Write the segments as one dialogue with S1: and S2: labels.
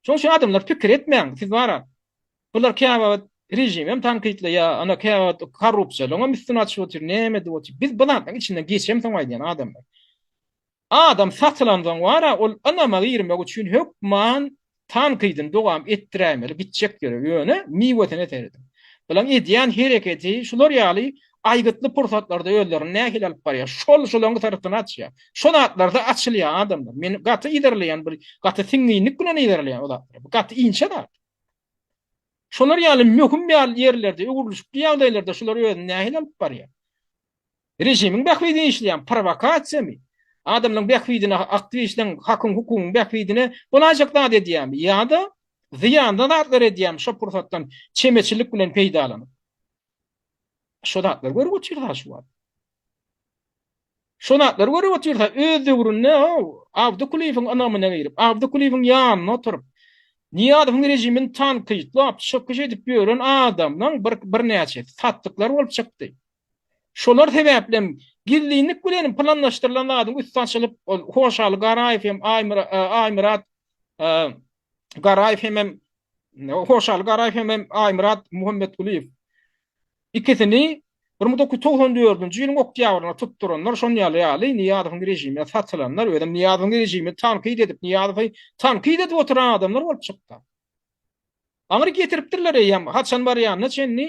S1: Şoň üçin adamlar pikir etmäň, siz bara bular käwagt režimem tankytlaýar, ana käwagt korrupsiýalaňam üstüni açyp otyr, näme edip otyr. Biz bu zatlaryň içinden geçem soň aýdýan adamlar. Adam satylansoň bara ol ynama girmek üçin hökman tankydyny dowam etdiräýmeli gitjek ýere, ýöne miwesine serediň. Bularyň edýän hereketi şular ýaly aýgytly pursatlarda özlerini nähili alyp barýar? Şol şolaň syrtyny açýar. Şo zatlarda açylýar adamlar. Meni gaty yzarlaýan bir gaty siňňinlik bilen yzarlaýan o zatlar. Bu gaty inçe zat. Şolar ýaly möhüm ýaly ýerlerde, öwrülişikli ýagdaýlarda şular özüni nähili alyp barýar? Režimiň bähbidine işleýärmi? Prowokasiýamy? Adamlaryň bähbidine aktiw işleň, hakyň, hukugyň bähbidine bolaýjak zat edýärmi? Ýa-da zyýanly zatlar edýärmi şo pursatdan çemeçilik bilen peýdalanyp? Şo zatlar görüp otyr ha şu wagt. Şo zatlar görüp otyr ha öz döwründe Abdy Kuliýewiň ynamyna girip, Abdy Kuliýewiň ýanyna oturyp, Niýazowyň režimini tankytlap, çykyş edip ýören adamlaň bir birnäçesi satdyklar bolup çykdy. Şolar sebäplem gizlinlik bilen planlaşdyrylan zadyň üsti açylyp, ol Hoşaly Garaýew hem Aýmyrat Garaýew hemem Hoşal Garaýew hemem Aýmyrat Muhammetgulyýew ikisini 1994-nji ýylyň oktýabrynda tutduranlar, şon ýaly ýaly Niýazowyň režimine satylanlar, özem Niýazowyň režimini tankyt edip, Niýazowy tankyt edip oturan adamlar bolup çykdy. Aňry getiripdirler eýýäm, haçan barýanyna çenli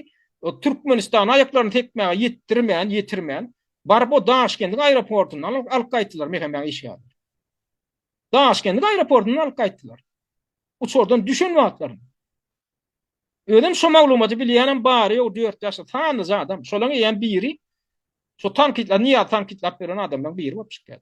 S1: Türkmenistana aýaklaryny tekmäge ýetdirmän, ýetirmän, baryp o Daşkendiň aeroportyndan alyp gaýtdylar Mehemäň işgärleri. Daşkent aeroportyndan alyp gaýtdylar. Uçardan düşen wagtlarym. Özüm şu maglumaty bilýänem bary ýok, dört ýaşly sanlyja adam. Şolaň eýýäm biri şu tankytlar, Niýaz tankytlap beren adamlaryň biri bolup çykýar.